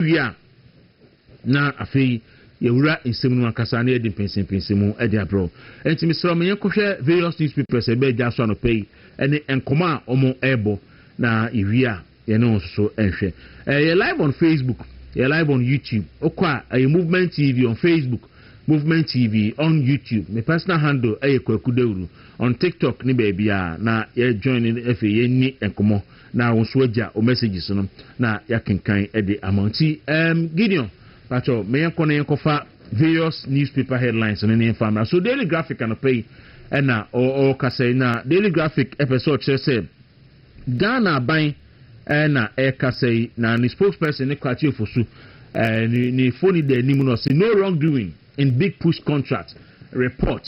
Wowie a, na afei yɛawura nsɛm no mu ankasa na yɛde mpɛnsɛmpɛnsɛm mu de abrɛ wo. Enti mesrɛ wo ma yɛnkɔhwɛ various newspapers a ɛbaa gya so anɔpa yi ne nkɔmmɔ a wɔrebɔ na yɛwie a yɛne wɔn nso so nhwɛ. Yɛ live on Facebook, yɛ live on YouTube. Wokɔ a ɛyɛ Movement TV on Facebook, Movement TV on YouTube. Me personal handle yɛ Kwaku Dawuru on TikTok ne baabiara na yɛjoin ne afei yɛnni nkɔmmɔ. Na wo nso agya wo messages no na yɛakenkan de ama wo. Nti erm Gideon, pakyɛ ma yɛnkɔ na yɛnkɔfa various newspaper headlines no ne yɛmfa mmra. So Daily Graphic anɔpa yi ɛna ɔrekasa yi, na Daily Graphic ɛpɛ sɛ ɔkyerɛ sɛ Ghana aban ɛna ɛrekasa yi, na ne spokesperson ne Kwakye Ofosu ɛɛ ne ne foni da anim na ɔse no wrongdoing in big push contract report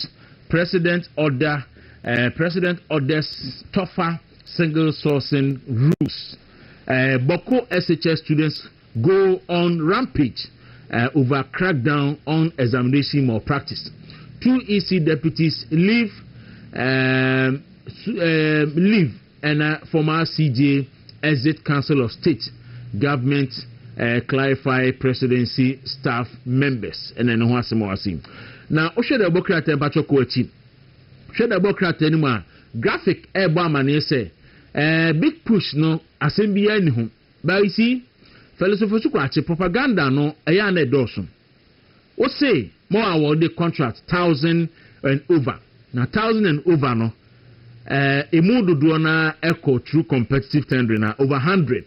president order ɛɛ president orders tougher Single sourcing rules eh, Bawku SHS students go on rampage eh, over crackdown on examination malpractice, two EC deputies leave eh, eh, leave and eh, former CJ exit Council of State, government eh, clarify presidency staff members ɛna ɛno ho asɛm wɔ ase yi. Na wohwɛ dɛ ɔbɔ krataa mpakyɛ kɔ akyi. Hwɛ na ɛbɔ krataa no mu a graphic rebɔ amanneɛ sɛ, Eh, big push no, asɛm biara nni ho. But you see, Fɛlɛsofo so kwakye, propaganda no, ɛyɛ a na ɛdɔɔso. Wose ma wɔawɔɔde contract thousand and over, na thousand and over no, eh, emu dodoɔ no ara kɔ through competitive tendering a, over hundred.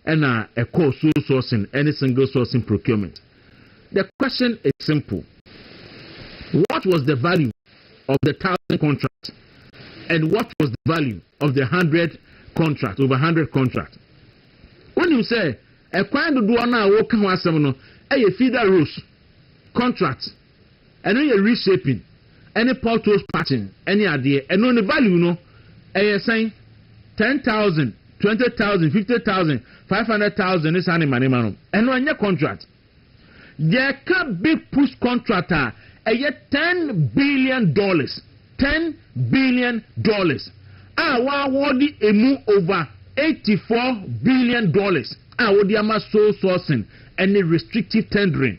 Ɛna ɛkɔɔ sole sourcing ɛne single sourcing procurement. The question is simple, what was the value of the thousand contract and what was the value of the hundred contract over hundred contract? Wonim sɛ ɛkwan dodoɔ no a wɔka ho asɛm no ɛyɛ feeder rows contract. Ɛno yɛ reshaping ɛne potholes patching ɛne adeɛ. Ɛno ne value no ɛyɛ sɛn? Ten thousand, twenty thousand, fifty thousand, five hundred thousand ne saa ne manema no. Ɛno ɛnyɛ contract. Yɛka big push contract a ɛyɛ ten billion dollars, ten billion dollars a w'awɔɔde ɛmu over eighty four billion dollars a wode ama sole sourcing ɛne restrictive tendering.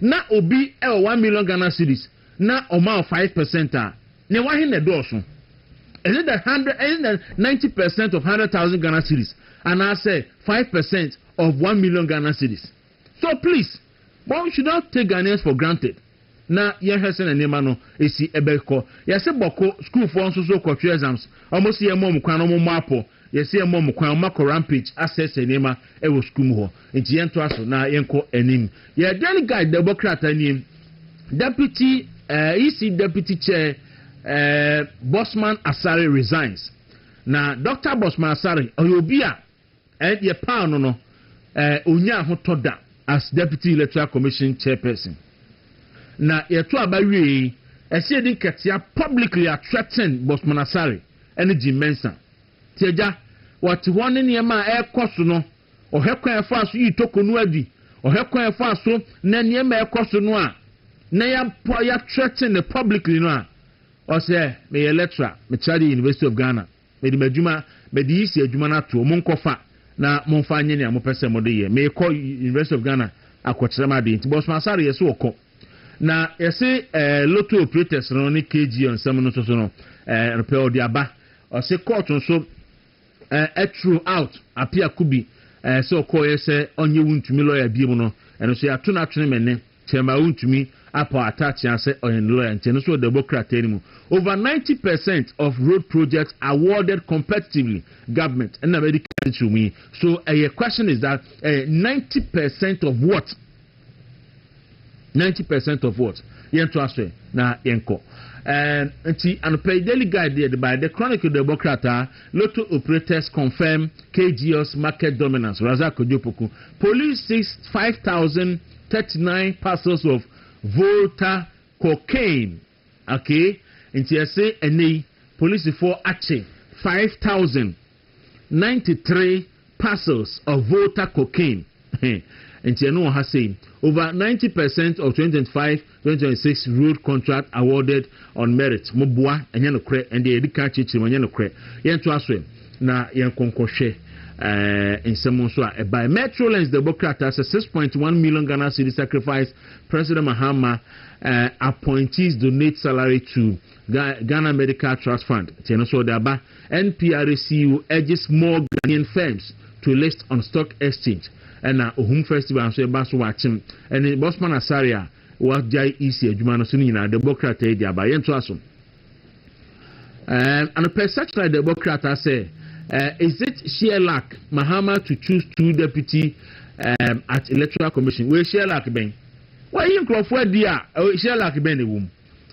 na obi wɔ one million Ghana cedis na ɔma wo five percent a, nea wahe na ɛdɔɔso? Is it the hundred, is it the ninety percent of hundred thousand Ghana cedis anaasɛ five percent of one million Ghana cedis? So please, one should not take Ghanaians for granted na yɛnhwɛ sɛnea nneɛma no esi ɛbɛkɔ. Yɛse bɔko, sukuufoɔ nso so kɔtwe exams, wɔn se yɛmma wɔn kwan na wɔmmɔ apɔ. Yɛse yɛmmɔ mo kwan mma kɔ rampage asɛesɛe nneɛma wɔ sukuu mu hɔ. Nti yɛntoa so na yɛnkɔ anim. Yɛ Daily Guide na ɛbɔ krataa nie. Deputy eh, EC Deputy Chair eh, Bossman Asare resigns. Na Doctor Bossman Asare, ɔyɛ obi a eh, yɛ paw no no, eh, ɔnyaa ahotɔ da as Deputy Electoral Commission Chairperson. Na yɛto aba wie yi, ɛsɛ yɛdi nkɛtea publicly a threaten Bossman Asare. ne Jim Mensah. Tiagya, wɔte hɔ ne nneɛma a ɛrekɔ so no, ɔhwɛ kwan a ɛfaa so yii Toko no adi, ɔhwɛ kwan a ɛfaa so na nneɛma a ɛrekɔ so no a na yɛapɔ yɛathreaten no publicly no a, ɔsɛ, meyɛ lecturer, metra de University of Ghana, mede m'adwuma, mede yi si adwuma no ato, monkɔfa na momfa nyɛ nea mopɛ sɛ mode yɛ, merekɔ University of Ghana akɔkyerɛ m'ade, nti Bosman Asare yɛse ɔkɔ. Na yɛse eh lotto operators no ne KG nsɛm no nso so no eh no pɛ ɔde aba. Ɔse court nso eh ɛtru out apia kubi eh sɛ ɔkɔɔyɛ sɛ ɔnye wo ntumi lawyer biom no ɛno nso yɛato no atwene me ne kyɛma wo ntumi apaw atakyea sɛ ɔyɛ ne lawyer nti ɛno nso ɔde bɔ krataa no mu over 90 percent of road projects awarded competitively government ɛna mɛde ka titiriw mu yi so ɛyɛ question is that eh 90 percent of what Ninety percent of what? Yɛnto aso ɛ na yɛnkɔ. Um, nti anɔpa yi Daily Guide deɛ de baeɛ, The Chronicle deɛ ɛbɔ krataa, Lotto operators confirm KGL's market dominance, Razak Kojopoku, Police seize five thousand thirty nine parcels of Volta cocaine. Okay nti ɛse ɛnɛ yi polisifoɔ akye five thousand ninety three parcels of Volta cocaine he nti ɛno wɔ ha sei over ninety percent of twenty twenty five twenty twenty six road contract awarded on merit mo boa ɛnyɛ nokorɛ ɛnde yɛde kan akyirikyiri mu ɛnyɛ nokorɛ yɛn to aso ɛ na yɛn nkɔnkɔ hwɛ ɛɛ nsɛm nso a ɛbae metrolinx de bɔ krataa sɛ six point one million Ghana cedi sacrifice President Mahama eh, appointees donate salary to Ghana Medical Trust Fund. Nti ɛno nso ɔde aba. NPRACU urges more Ghanaian firms to list on stock exchange. Ɛna Ohum Festival nso ɛba so wakyem. Ɛne Bosman Asare a wagyae EC adwuma no so no nyinaa de bɔ krataa yi de aba. Yɛntoa so. Eh, anɔpɛ Searchlight de bɔ krataa sɛ eh, is it sheer luck Mahama to choose two deputy um, at electoral commission wei sheer luck bɛn wayi nkurɔfoɔ adi a sheer luck bɛn na ɛwɔ mu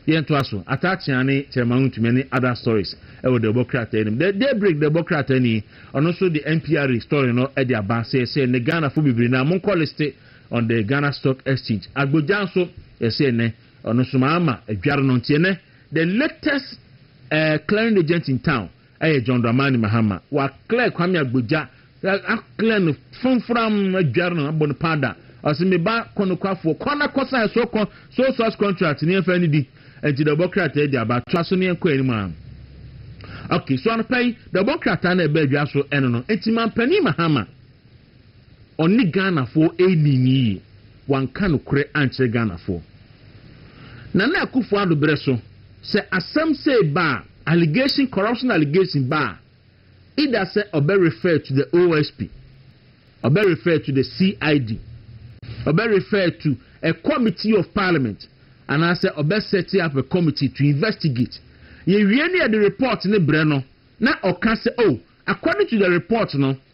yɛntoa so ataakyea ne kyerɛma ho ntumi ne other stories ɛwɔ de bɔ krataa anim the daybreak de bɔ krataa ni ɔno nso de npr story no de aba sɛ sɛ ne ghanafoɔ bebree no a monkɔ liste on the ghana stock exchange agbogya nso ɛsɛ nɛ Ɔno nso maa ama adware no nti ɛnɛ the latest eh, clearing agent in town ɛyɛ John Dramani Mahama. Wa clear Kwame Agbodza, a clear no framfram, adware no, abɔ no powder. Ɔse me ba kɔ nokwafoɔ, kɔ na kɔ sign so kɔ so source contract ne yɛmfa ne di. Nti da ɔbɔ krataa di aba, toa so ne yɛnkɔ anim a. Okay, so anɔpa yi da ɔbɔ krataa na ɛbɛ adwa so ɛno no. Nti Manpanin Mahama. Ɔne Ghanafoɔ ɛnnii no yie, wanka nokorɛ ankyerɛ Ghanafoɔ. Nana Akuffo Addo berɛ so, sɛ asɛm sei ba a, allegation, corruption allegation ba a, either sɛ ɔbɛ refer to the OSP, ɔbɛ refer to the CID, ɔbɛ refer to a committee of parliament, anaasɛ ɔbɛ set up a committee to investigate. Yɛwie ne yɛde report ne brɛ no, na ɔka sɛ oh, according to the report no,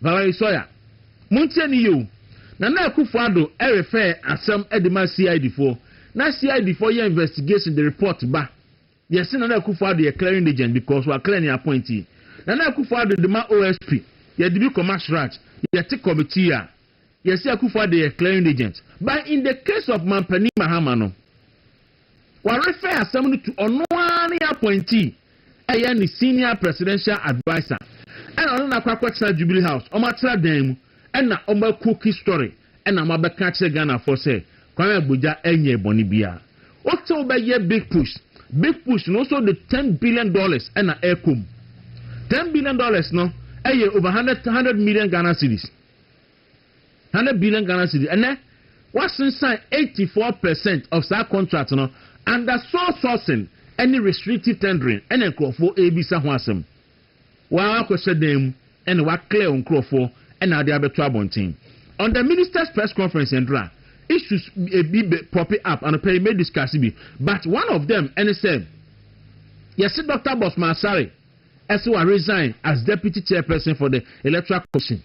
Valerie Sawyer, Montie no yie o, Nana Akufo Addo refɛɛ asɛm de ma CID foɔ, na CID foɔ yɛ investigation de report ba, yɛse Nana Akufo Addo yɛ clearing agent because wa clear ne appointee. Nana Akufo Addo de ma OSP, yɛde bi kɔma Sraj, yɛte committee a, yɛse Akufo Addo yɛ clearing agent. But in the case of Mampanin Mahama no, Wɔrefer asɛm no to ɔno ara ne appointee a ɛyɛ ne senior presidential adviser ɛna ɔne no akɔ akɔtena Jubilee House, wɔatra dan mu ɛna wɔayɛ cookie story ɛna wɔabɛka akyerɛ Ghanafoɔ sɛ Kwame Agbodza ɛnyɛɛ bɔne biara. Wose wobɛyɛ big push, big push no wose wode ten billion dollars ɛna ɛrekɔ mu. Ten billion dollars no ɛyɛ over hundred hundred million Ghana cedis. Hundred billion Ghana cedis ɛnɛ wasensan eighty four per cent of saa contract no under sole sourcing ɛne restrictive tendering ɛna nkorɔfoɔ ɛrebisa ho asɛm. Waa wakɔhyɛ dan mu ɛna wa clear wo nkorɔfoɔ ɛna wode abɛto abɔnten. On the ministers press conference ɛndra issues bi bɛ pope up anɔpɛ yi mɛ discuss bi but one of them ɛne sɛ yɛse Doctor Bosman Asare ɛse wa resign as deputy chairperson for the electoral commission.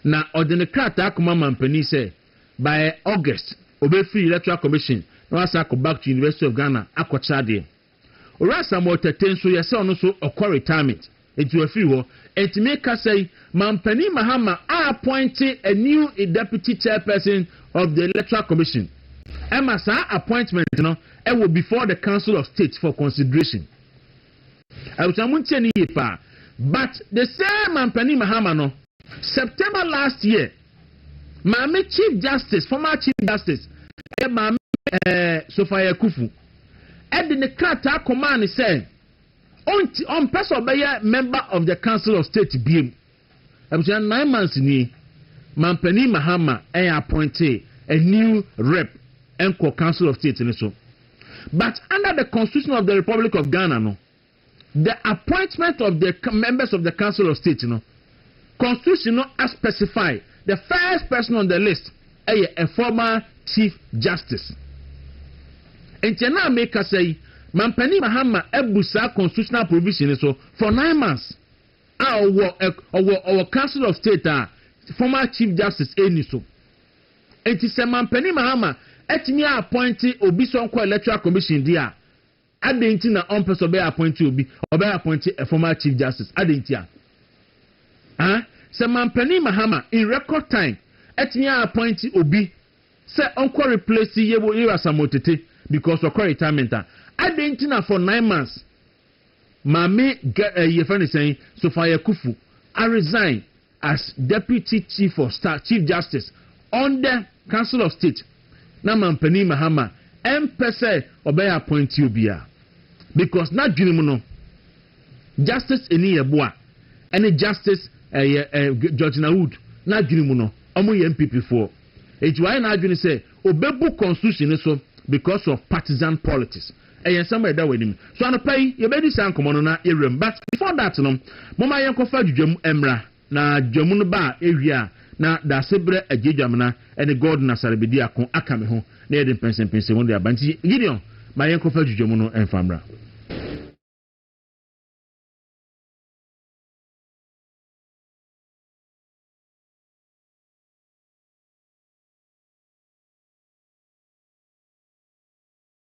Na ɔde ne krataa kɔma manpanin sɛ by August ɔbɛfiri Electoral Commission na wasan akɔ back to University of Ghana akɔkyerɛ adeɛ. Owura Samuel Tetteh nso yɛsɛ ɔno nso ɔkɔ retirement nti wafiri hɔ. Nti me kasa yi manpanin Mahama a appointe a new deputy chairperson of the Electoral Commission ɛma saa appointment no ɛwɔ before the Council of State for consideration. Abusua mo ntie no yie paa but the same Manpanin Mahama no September last year maame chief justice former chief justice ɛyɛ maame ɛɛ eh, Sofaya Kufu ɛde ne krataa kɔmaa ne sɛ ɔnti ɔmpɛ sɛ ɔbɛyɛ member of the council of state biem Abusua, nine months nie, Manpanin Mahama ɛɛ appointee a new Rep nkɔ Council of State no so. But under the Constitution of the Republic of Ghana no, the appointment of the members of the Council of State no, Constitution no a specify the first person on the list ɛyɛ a former Chief Justice. Nti ɛna a mekasa yi, Manpanin Mahama abu saa constitutional provision no so for nine months. A ɔwɔ ɔwɔ ɔwɔ council of state a former chief justice ɛnni so. Nti sɛ Mampanin Mahama atumi a appoint obi sɛ ɔnkɔ electoral commission deɛ a, adɛn nti na ɔmpɛ sɛ ɔbɛyɛ appoint obi, ɔbɛyɛ appoint a former chief justice, adɛn nti a? Ah, sɛ Mampanin Mahama in record time atumi a appoint obi sɛ ɔnkɔ replace Yero Asamoah Tete because ɔkɔ retirement a, adɛn nti na for nine months Maame Gɛ ɛyi yɛfrɛ no sɛn Sofia Kufu aresign as Deputy Chief of Staff Chief Justice undɛ Council of State na Manpanin Mahama ɛmpɛ sɛ ɔbɛyɛ appointee obiaa because n'adwene mu no Justice Ani Yɛboa ɛne Justice ɛyɛ ɛ Georgina Wood n'adwene mu no ɔmo yɛ NPP foɔ enti wayɛ n'adwene sɛ ɔbɛbu constitution no so because of partisan politics. Ɛyɛ nsɛm a ɛda w'anim. So anɔpa yi yɛbɛdi saa nkɔmmɔ no na yɛawura mu? But before that no, momma yɛnkɔfa dwudwam mmra. Na dwudwam no ba a, yɛwie a, na Daasebrɛ Agye Dwamena ne God Nasare bɛdi ako aka me ho na yɛde mpɛnsɛmpɛnsɛmu no de aba. Nti Gideon, ma yɛnkɔfa dwudwam no mfa mmra.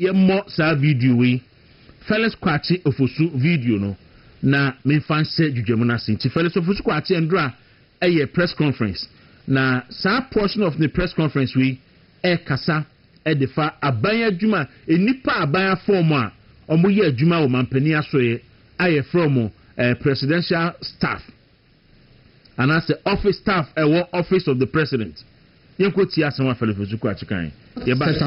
yɛmmɔ saa video yi, Felix Kwakye Ofosu video no, na memfa nhyɛ dwudwamu no ase. Nti Felix Ofosu Kwakye Ndora yɛ press conference, na saa portion of ne press conference wei ɛrekasa de fa aban adwuma, nnipa aban afɔm a wɔyɛ adwuma wɔ mampanin asoeɛ a yɛfrɛ wɔn eh, presidential staff anaasɛ office staff ɛwɔ office of the president. Yɛnkɔ tie asɛm a Felix Ofosu Kwakye kan. Yɛba.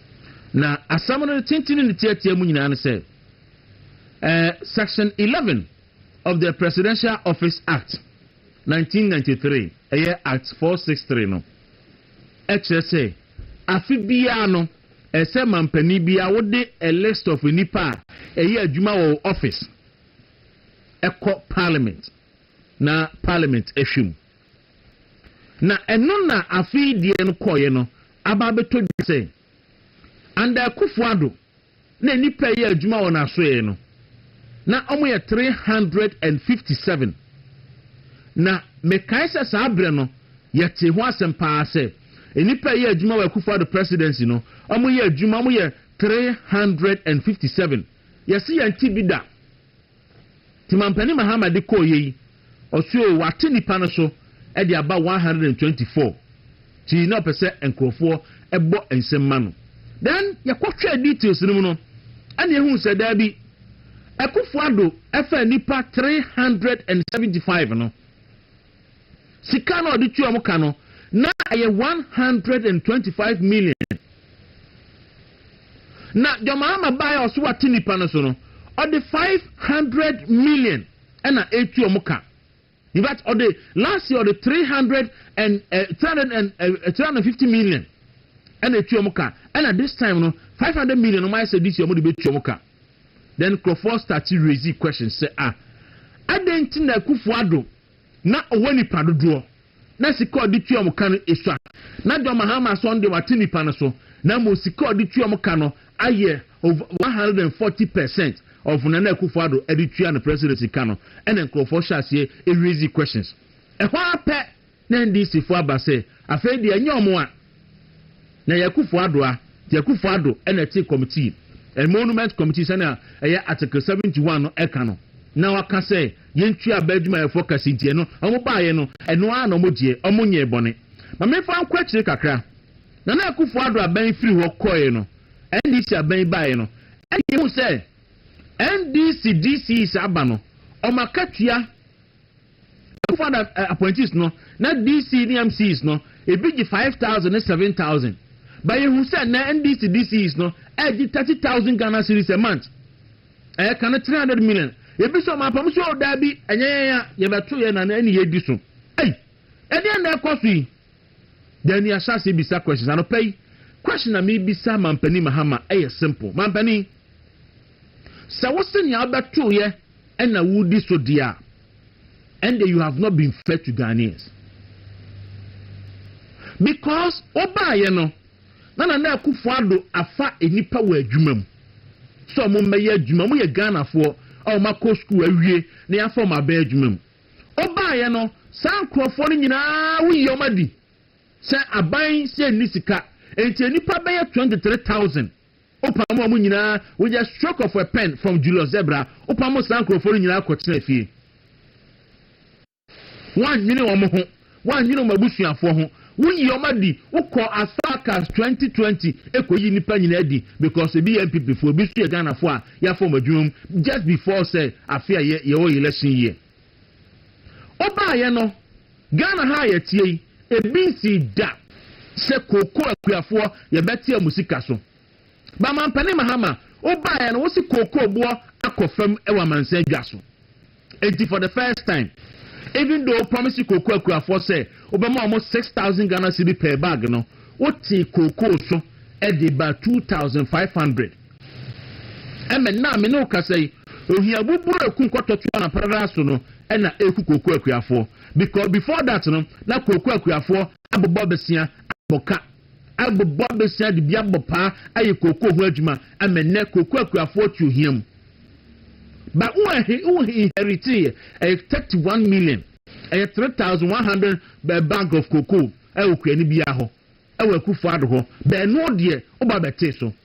Na asɛm no ne tenten ne ne tiatia mu nyinaa ne sɛ, ɛɛ, Section eleven of the Presidential Office Act, nineteen ninety three, ɛyɛ Act four six three no, ɛkyerɛ sɛ afe biara no, ɛsɛ sɛ manpanin biara wode a list of nnipa a ɛyɛ adwuma wɔ wo office ɛkɔ Parliament na Parliament ɛhwɛ mu. Na ɛno na afei deɛ no kɔeɛ no aba abɛtɔ dwa sɛ, under Akufo Addo na nnipa reyɛ adwuma wɔ n'asoɛeɛ no, na wɔyɛ three hundred and fifty seven. Na mekae sɛ saa berɛ no yɛtee ho asɛm pa ara sɛ, nnipa a ɛyɛ adwuma wɔ Akufo Addo presidency no, wɔyɛ adwuma, wɔyɛ three hundred and fifty seven. Yɛse yɛnte bi da. Nti Mampanin Mahama de kɔeɛ yi, ɔse oo wate nnipa no so de aba one hundred and twenty four nti na ɔpɛ sɛ nkorɔfoɔ bɔ nsɛm ma no. Then yɛkɔhwɛɛ details no mu no, ɛna yɛhuu sɛ daabi, Akufo-Addo faa nnipa three hundred and seventy five no, Sika no a ɔde tua wɔn ka no, na ɛyɛ one hundred and twenty five million. Na John Mahama baeɛ a ɔso wate nipa no so no, ɔde five hundred million ɛna etu wɔn ka. In fact, ɔde last year ɔde three hundred and eh, three hundred and eh, three hundred and fifty million ɛna etu wɔn ka. Ɛna this time no five hundred million wɔn ayɛ sɛ this year wɔn de bɛ tu wɔn ka. then nkurɔfoɔ start raise questions sɛ ah adɛn nti na Akuffo Addo na ɔwɔ nipa dodoɔ na sika a ɔde tua wɔn ka no esua na John Mahama so ɔno deɛ wate nipa no so na mmom sika a ɔde tua wɔn ka no ayɛ over one hundred and forty percent of Nana Akuffo Addo ɛde tua no presidency ka no ɛna nkurɔfoɔ hyɛ aseɛ raise questions ɛhɔ ara pɛ Na NDCfoɔ aba sɛ afei deɛ ɛnyɛ ɔmo a na ɛyɛ Akufo Addo a, nti Akufo Addo na ɛte Committee, Emolument Committee sɛnea ɛyɛ Article seventy one no ɛka no, na waka sɛ yɛntua bɛ adwumayɛfoɔ ka si nti ɛno ɔmo baaeɛ no ɛno ara na ɔmo gyeɛ, ɔmo nyɛɛ bɔne. Ma menfa nkɔ akyire kakra, Nana Akufo Addo aban firi hɔ kɔeɛ no, NDC aban baaeɛ no, ɛna yɛhuu sɛ NDC DCs aba no, ɔmo akatua, Akufo Addo eh, appointees no, na DC ne MCs no, ebi gye five thousand ne seven thousand. But yehu sɛ nnɛ NDC DCs no ɛgye thirty thousand Ghana cedis a month. Ɛyɛ ka no three hundred million. Ebi sɛ ɔmo apam sɛ o daa bi, ɛnyɛ yɛn a yɛbɛto yɛn na ɛne yɛdi so. Ei, ɛdeɛn na ɛkɔ so yi? Then ni ahyɛ ase bisa questions. Anɔpa yi, question na mebisa Mampanin Mahama ɛyɛ simple. Mampanin, Sɛ wose nea wobɛtoeɛ na woredi so deɛ a, ɛnde you have not been fair to Ghanaians. Because wobaeɛ no, na Nana Akufo Addo afa nnipa wɔ adwuma mu sɛ wɔmmɛyɛ adwuma. Wɔyɛ Ghanafoɔ a wɔakɔ sukuu awie na yɛafa wɔn aba adwuma mu. Wobaeɛ no, saa nkurɔfoɔ no nyinaa woyi wɔn adi sɛ aban sɛ ɛnni sika, enti nnipa bɛyɛ 23,000 Wopam wɔn nyinaa with the stroke of a pen from Julius Zebra, wopam saa nkurɔfoɔ no nyinaa kɔtenaa fie. Woannwene wɔn ho, woannwene wɔn abusuafoɔ ho, woyii wɔn adi, wokɔɔ as far as 2020 kɔyii nnipa nyinaa adi because ebi yɛ NPP foɔ, ebi nso yɛ Ghanafoɔ a yɛafa wɔn adwuma mu just before sɛ afe a yɛwɔ yɛn election year. Wobaeɛ no, Ghana ha a yɛteɛ yi, ebi nsii da sɛ kooko akuafoɔ yɛbɛte wɔn sika so. Ba Mampanin Mahama, wobaeɛ no, wose kooko boɔ akɔ fam wɔ amansan dwa so. Enti for the first time, even though promise kooko akuafoɔ sɛ wobɛma wɔn 6,000 Ghana cedi per bag no, wotee kooko so de baa 2,500. Ɛmɛ, nnɛ a me ne wo kasa yi, ohia buburo eku nkɔtɔtwe anamparada so no na eku kooko akuafoɔ. Because before that no, na kooko akuafoɔ abobɔ besia abɔ ka, abobɔ besia de bi abɔ paa ayɛ kooko ho adwuma. Ɛmɛ nnɛ, kooko akuafoɔ te ohia mu. Ba wo ɛhe, wo inheritee yɛ, ɛyɛ 31 million, ɛyɛ 3,100 bag of cocoa ɛwɔ kuani biara hɔ, ɛwɔ Akufo-Addo hɔ. Bɛɛno deɛ, wo ba bɛtee so.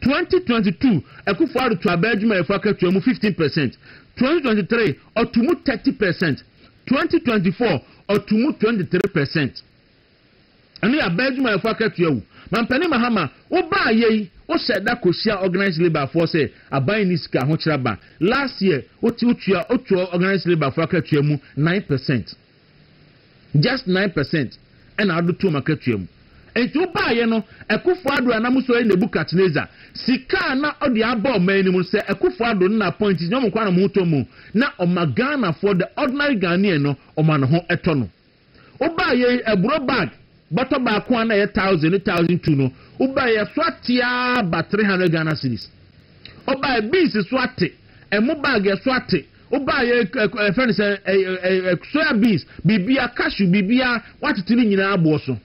2022 Akufo-Addo to abaa adwumayɛfo akatua mu fifteen per cent, 2023 ɔto mu thirty per cent, 2024 ɔto mu twenty three per cent. Ɛno yɛ abaa adwumayɛfo akatua o. Mampanin Mahama, wo baa yɛ yi, wo hyɛ da ko hyia organised labour foɔ sɛ aban nni sika ahokyerɛ aban. Last year, wo te wo tua, wo to organised labour foɔ akatua mu nine per cent. just nine percent na ɔde too m'akatua mu. Enti wobaeɛ no, Akuffo Addo a na mo sɔre Nebuchadnezzar, sika a na ɔde aba ɔman no mu no, sɛ Akuffo Addo no na appointees nyɛ wɔn nkoa na wɔn ho tɔ mu, na ɔma Ghanafoɔ, the ordinary Ghanaian no, ɔma ne ho tɔ no. Wobaeɛ yi, aburo bag. Bɔtɔ baako a na ɛyɛ thousand ne thousand two no, wobae a ɛso ate ara ba three hundred Ghana cedis. Ɔbae, beans so ate, ɛmo bag a ɛso ate, wobae ɛ ɛ ɛfɛ no sɛ ɛ ɛ ɛ soya beans, biribiara, cashew, biribiara, wɔatete ne nyinaa aboɔ so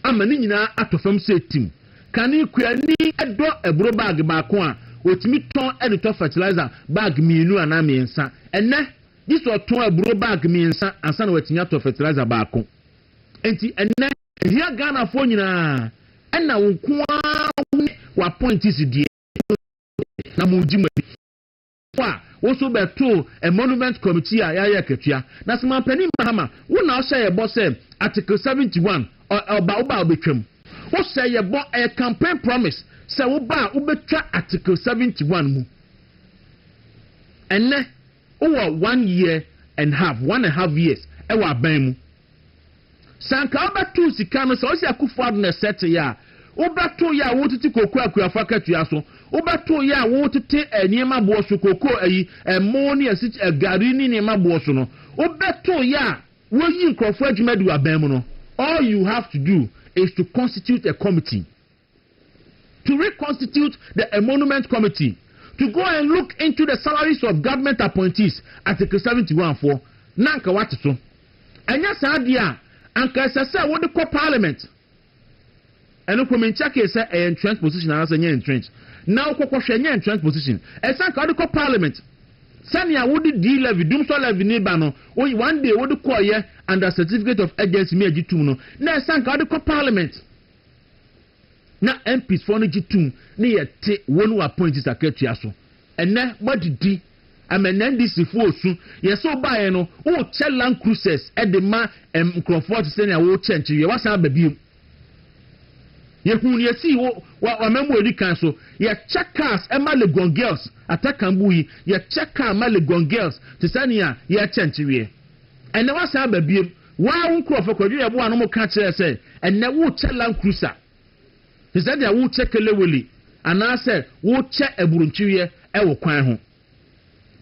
ama ne nyinaa atɔ fam sɛ tim. Kane kuani dɔ aburo bag baako a, ɔtumi tɔn de tɔ fertilizer bag mmienu anaa mmiɛnsa. Ɛnnɛ, gye sɛ ɔtɔn aburo bag mmiɛnsa ansa na watumi atɔ fertilizer baako. Enti ɛnnɛ, ɛhia Ghanafoɔ nyinaa, ɛnna wo nko ara wo ne w'apɔintisi deɛ mo pɛ na mogye mo ani kɔ a, wo nso bɛto Emolument Committee a yɛayɛ akatua. Na Sima Panin Mahama, wo na wohyɛ yɛ bɔ sɛ Article seventy one, ɔ, ɔba, woba a wobɛtwam. Wohyɛ yɛ bɔ, ɛyɛ campaign promise, sɛ woba a wobɛtwa Article seventy one mu. Ɛnnɛ, Wowɔ one year and half, one and half years wɔ aban mu. Sɛ anka wobɛtow sika no, sɛ ɔse Akufo-Addo na ɛsɛteeɛ a, wobɛtow yɛ a wotete cocoa akuafo akatua so, wobɛtow yɛ a wotete nneɛma boɔ so, cocoa ayi, ɛmoo ne asiky ɛ gari ne nneɛma boɔ so no, wobɛtow yɛ a woyi nkurɔfoɔ adwuma di wɔ aban mu no, all you have to do is to constitute a committee. to reconstitute the emolument committee to go and look into the salaries of government appointees, Article seventy one foɔ, na anka wate so. Ɛnyɛ saa deɛ a, anka ɛsɛ sɛ wode kɔ Parliament. Ɛno koraa menkyɛkee sɛ ɛyɛ entrenched position anaasɛ ɛnyɛ entrenched. Na wokɔkɔhwɛ, ɛnyɛ entrenched position. Ɛsɛ sɛ anka wode kɔ Parliament. Sɛnea wode dii levy, dumsɔ levy no ba no, one day wode kɔɔyɛ under certificate of urgency, me agye tom no, na ɛsɛ sɛ anka wode kɔ Parliament. Na MP foɔ no gye tum ne yɛ te won wo appointees akatua so. Ɛnɛ mo adidi ama ɛnɛ NDC foɔ osu. Yɛ sɛ wo baeɛ no wo kyɛ land cruisers de ma nkrɔfoɔ te sɛnea wo kyɛ nkyeweɛ wasan aba biom. Yɛ hu nea esii wo wa amamu a edi kan so. Yɛ kyɛ cars ma Legon girls atakanbu yi yɛ kyɛ car ma Legon girls te sɛnea yɛ kyɛ nkyeweɛ. Ɛnɛ wasan aba biom. Wo ara wo nkurɔfo, Kwadwo Yeboah no mo ka kyerɛɛ sɛ ɛnnɛ worekyɛ Land Cruiser te sɛ deɛ worekyɛ kelewele anaasɛ worekyɛ aburonkyeweɛ wɔ kwan ho.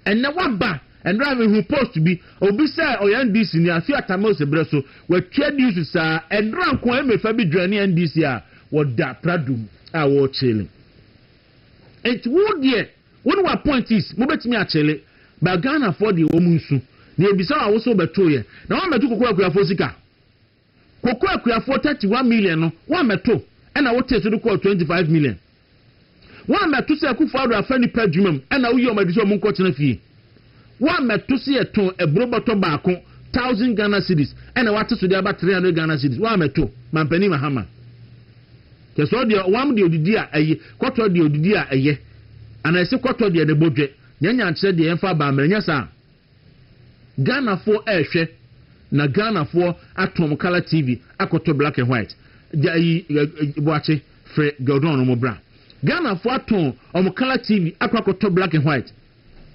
Ɛnnɛ woaba, ɛnora mehuu post bi, obi sɛ ɔyɛ NDC ni, afe Atta Mills berɛ so, watua dues saa, ɛnora nko ara Emefa bi joine NDC a wɔda prado mu a wɔrekyele. Enti wo deɛ. Wo ne w'appointees mobɛtumi akyele, but Ghanafoɔ deɛ wɔn nsu. Na yɛbisa wo a wose wobɛtoeɛ, na woammɛto Koko Akuafoɔ sika? Koko Akuafoɔ thirty one million no woammɛto ɛna wotee so de kɔɔ twenty five million? Woammɛto sɛ Akufo-Addo afa nnipa adwuma mu ɛna woyii wɔn adi sɛ wɔnkɔtena fie? Woammɛto so yɛtɔn aburo bɔtɔ baako thousand Ghana cedis ɛna woate so de aba three hundred Ghana cedis woammɛto Mampanin Mahama kyɛ sɛ ɔdeɛ ɔwam deɛ ɔdidi a ɛyɛ kɔtɔ deɛ ɔdidi a ɛyɛ ana ɛse kɔtɔ deɛ ne bodwe nyanya nkyerɛ deɛ yɛmfa aba mmerɛ nyɛ saa Ghanafoɔ ɛrehwɛ na Ghanafoɔ atɔn mo color TV akɔtɔ black and white gya ayi boakye frɛ Gordon no mo bra Ghanafoɔ atɔn ɔmo color TV akɔ akɔtɔ black and white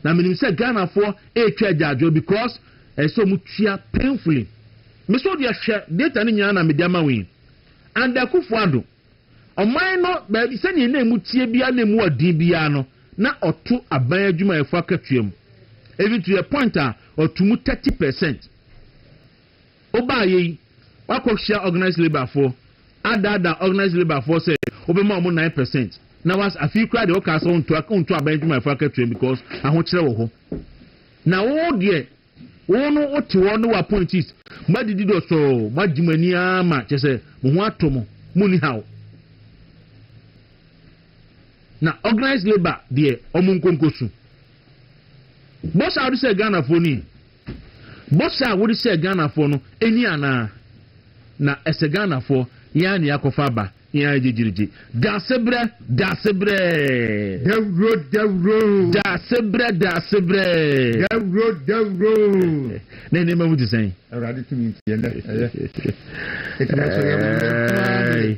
Na menim sɛ Ghanafoɔ retwa agyaadwoɔ because ɛsɛ sɛ wɔn tua painfully. Me nso deɛ hwɛ data no nyinaa na mede ama wo yi. Under Akuffo Addo, ɔman no baabi sɛdeɛ na ɛmu teɛ biara na ɛmu wɔ den biara no, na ɔto aban adwumayɛfoɔ akatua mu. Even to the point a ɔto mu thirty percent. Wobaeɛ yi, woakɔhyia organised labour foɔ, adaadaa organised labour foɔ sɛ wobɛma wɔn nine percent, na was, afei koraa deɛ wokaa sɛ wonto, wonto aban adwumayɛfoɔ akatua because ahokyerɛ wɔ hɔ. Na wo deɛ, wo no wote hɔ ne w'appointees, moadidi dɔsɔɔ, moagye mo ani ara ma kyɛ sɛ mo ho atɔ mo, monni haw. Na organised labour deɛ wɔn nkonkosu. Bɔ saa wode sɛ Ghanafoɔ ni. Bɔhyɛ a wode hyɛɛ Ghanafoɔ no ɛnni anaa? Na ɛsɛ Ghanafoɔ yɛn ara na yɛakɔfa aba yɛn ara gyegyeregye. Daasebrɛ! Daasebrɛɛ! Dawuro dawuro. Daasebrɛ daasebrɛɛ. Dawuro dawuro. Na nneɛma mu te sɛn? Awurade tumi nti ɛnɛ ɛyɛ. Ɛtumi nso yɛ wo nko ara na ɛyɛ. Ɛɛi.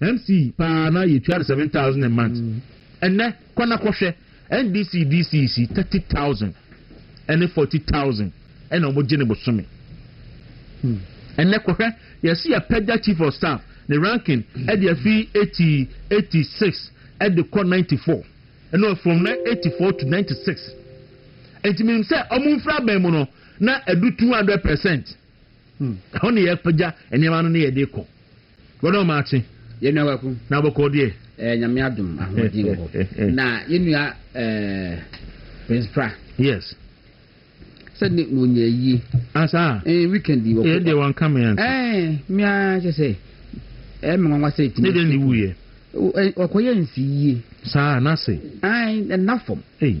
Mce paa na yɛ twa no seven thousand a month ɛnɛ kɔ na kɔ hwɛ NDC DCs yi thirty thousand ɛne forty thousand ɛna wɔn gye ne bosome ɛnɛ kɔ hwɛ yɛsi yɛ pɛgya chief of staff ne ranking ɛde afi eighty eighty six ɛde kɔ ninety four ɛna from eighty four to ninety six ntumi sɛ wɔn mfra bɛn mu no na ɛdu two hundred percent. Ɛhɔ na yɛpagya nneɛma no na yɛde kɔ. W'ɛne ɔma akye. Yɛn nua Kwaku. Na bɔkɔɔ deɛ? Ɛɛ Nyame adom ahoɔden wɔ hɔ. Na yɛn nua ɛɛ Prince Pra. Yes. Sɛ ne na ɔnya ayie. Ah saa? Ɛɛ weekend yi. Ɛɛ deɛ wanka me anti. Ɛɛ me ara kyɛ sɛ ɛɛ me nwanwa sɛ ɛtumi. Ne deɛ ne wuiɛ. Ɔkɔyɛ nsiyie. Saa n'ase. Ae ɛna fam. Ei.